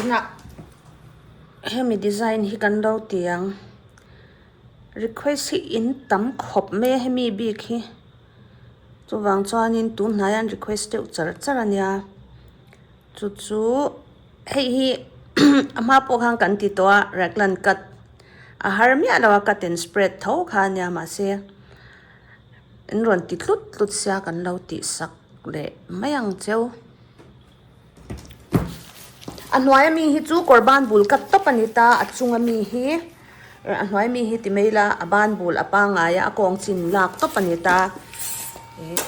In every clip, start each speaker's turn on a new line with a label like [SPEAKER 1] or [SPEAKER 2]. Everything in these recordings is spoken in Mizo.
[SPEAKER 1] tunah hemi design hi kan lo tiang request hi in tam khawp mai a hemi bik hi. Chuvang chuanin tun hnaiah an request deuh char char a nia. Chu chu hei hi a hma pawh khan kan ti tawh a, Raglan cut a har miah lo a, cut and spread tho kha a nia mahse an rawn ti tlut tlut sia kan lo tih sak leh mai ang cheu. A hnuaia mi hi chu kawr ban bul cut tawp a ni ta a chunga mi hi a hnuaia mi hi ti mai ila a ban bul a pangaia a kawng chin lak tawp a ni ta ih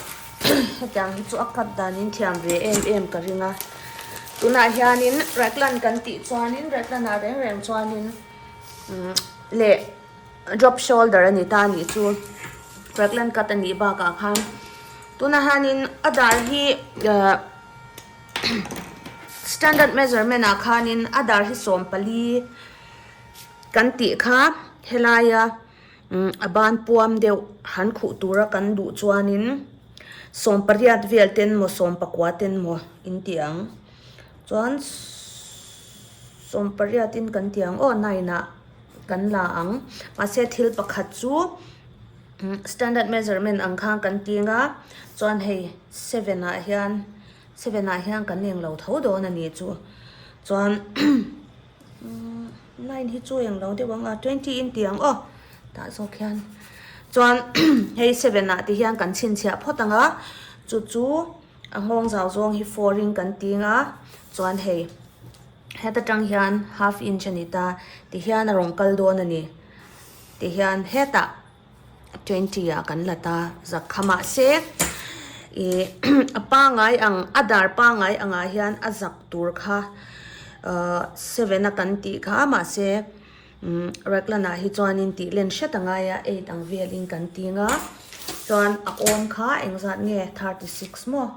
[SPEAKER 1] hetiang hi chu a cut danin thiam ve em em ka ring a tunah hianin raglan kan tih chuanin raglan ah reng reng chuanin umm leh-- Drop shoulder a ni ta a nih chu. Raglan cut a nih bakah khan tunah hianin a dar hi standard measurement ah khanin a dar hi sawm pali kan tih kha helaia a ban puam deuh han khuh tura kan duh chuanin sawm pariat vel te emaw sawm pakua te emaw in tih ang. Chuan sawm pariat in kan tih ang aw nine ah. kan la ang. Mahse thil pakhat chu standard measurement ang khan kan tîng a, chuan hei seven ah hian seven ah hian kan eng lo tho dawn a ni chu. Chuan line hi chu eng lo deuh ang a, twenty in tih ang aw, tah zawk hian. Chuan hei seven ah te hian kan chhinchhiah phawt ang a, chu chu a nghawng zau zawng hi four in kan tîng a, chuan hei. Heta tang hian half inch a ni ta, ti hian a rawn kal dawn a ni. Ti hian hetah twenty ah kan la ta zak kha mah se ih a pangai ang a dar pangai angah hian a zak tur kha ahh seven a kan tih kha a mah se umm Raglan-ah hi chuanin tih len hret a ngai a eight ang velin kan ting a chuan a awm kha engzat nge thirty six maw?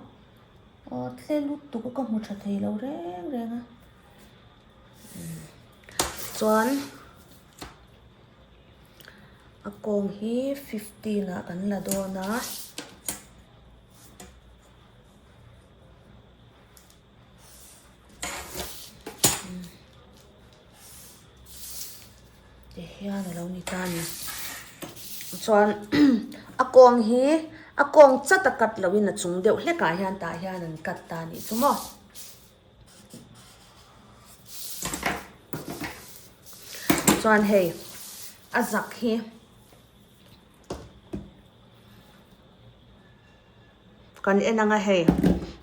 [SPEAKER 1] Aw tle lutuk a ka hmu tha thei lo reng reng a chuan a kawng hi fifteen ah kan la dawn a umm. Ti hian a lo ni ta ni. Chuan a kawng hi a kawng chat a cut loh in a chung deuh hlek ah hian tah hian an cut ta nih chu maw. Chuan hei a zak hi. Kan en anga hei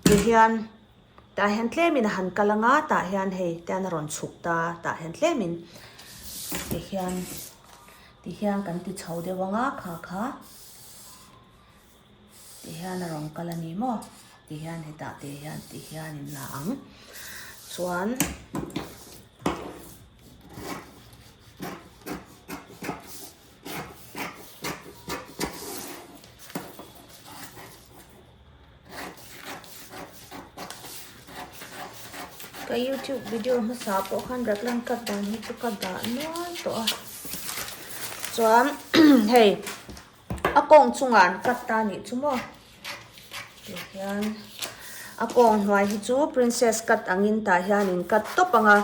[SPEAKER 1] tih hian tah hian tlem in a han kal anga tah hian hei te hian a rawn chhuk ta tah hian tlem in tih hian tih hian kan ti chho deuh anga kha kha tih hian a rawn kal a ni maw tih hian hetah teh hian tih hian in la ang chuan Ka YouTube video hmasa pawh khan Raklan cut dan hi chu ka dah nual tawh a chuan hei a kawng chunga an cut ta nih chu maw tih hian a kawng hnuai hi chu princess cut angin tah hian in cut tawp anga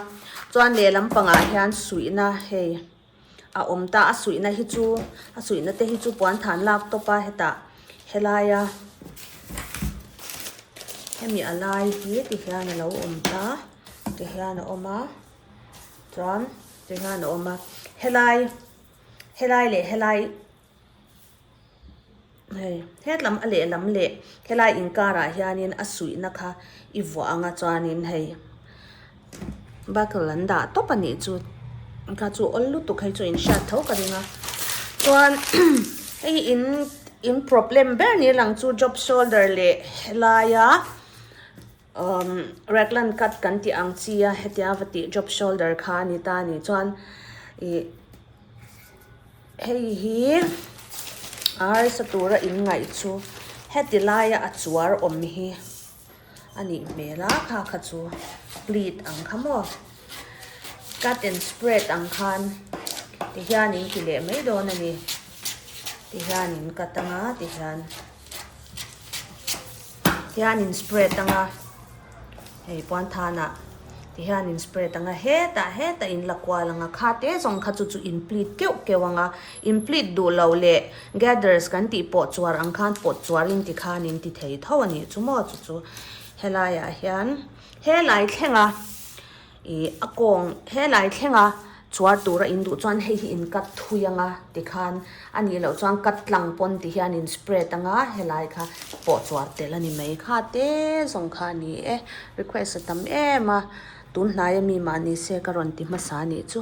[SPEAKER 1] chuan lehlam pangah hian suihna hei a awm ta a suihna hi chu a suihna te hi chu puanthan lak tawpa hetah helaia hemi a lai hi ti hian a lo awm ta ti hian a awm a chuan ti hian a awm a helai helai leh helai-- Hei, hetlam a lehlam leh helai inkarah hianin a suihna kha i vuah ang a chuanin hei buckle an dah tawp a nih chu kha chu awl lutuk hei chu in hriat tho ka ring a chuan hei in in problem ber ni a lang chu job shoulder leh helaia. Umm, Raglan cut kan tih ang chi a, hetia va tih drop shoulder kha a ni ta a nih chuan ih hei hi arsa tura in ngaih chu heti laia a chuar awm hi a nih hmel a kha kha chu pleat ang kha maw cut and spread ang khan ti hian in ti leh mai dawn a ni ti hian in ka tang a ti hian. Tihian in spray tang a, hei puanthan ah tihian in spray tang a, hetah hetah in la kual ang a, kha te zawng kha chu chu in pleat keuh keuh ang a, in pleat duh loh leh gathers kan tih pawh chuar ang khan pawt chuar in ti khan in ti thei tho a nih chu maw chu chu, helai ah hian helai thlenga. Ih, a kawng helai thlenga chhuar tura in duh chuan hei hi in cut thui anga ti khan a nih loh chuan cut tlang pawn ti hian in spread anga helai kha pawh chhuar tel a ni mai kha te zawng kha a ni e. Request a tam em a, tun hnaia mi mah ni se ka rawn ti hmasa a nih chu.